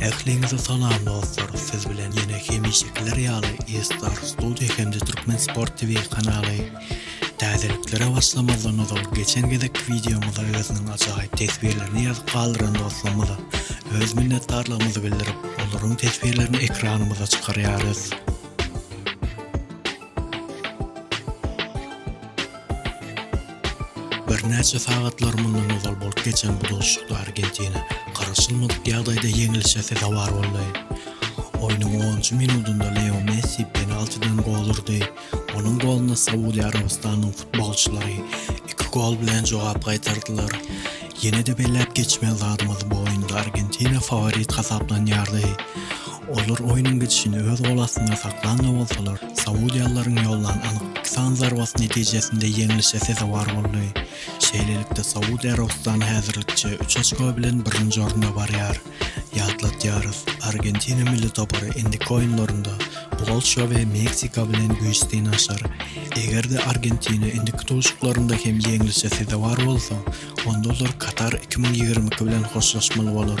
Ähliňize salam dostlar siz bilen ýene hemişekiler ýaly eStar Studio hem-de Türkmen Sport TV kanaly. Täzeliklere başlamazdan ozal geçen gezekki wideomyza özüniň ajaýyp teswirlerini ýazyp galdyran dostlarymyza öz minnetdarlygymyzy bildirip olaryň teswirlerini ekranymyza çykarýarys. Birnäçe sagatlar mundan ozal bolup geçen bu duşuşykda Argentina garaşylmadyk ýagdaýda ýeňilişe sezewar boldy. Oýnuň onunjy minudynda Leo Messi penaltidan gol urdy. Onuň goluna Saudiýa Arabystanynyň futbolçylary iki gol bilen jogap gaýtardylar. Ýene-de belläp geçmeli zadymyz bu oýunda Argentina faworit hasaplanýardy. Olar oýnuň gidişini öz gol astynda saklan-da bolsalar, saudiýalylaryň ýollan anyk iki sany zarbasy netijesinde ýeňlişe sezewar boldy. Şeýlelikde, Saud Arabystany häzirlikçe üç oçko bilen birinji orunda barýar. Ýatladýarys, Argentina milli topary indiki oýunlarynda Polşa we Meksika bilen güýç synanyşar. Eger-de Argentina indiki duşuşyklarynda hem ýeňlişe sezewar bolsa, onda olar Katar iki müň ýigrimi iki bilen hoşlaşmaly bolar.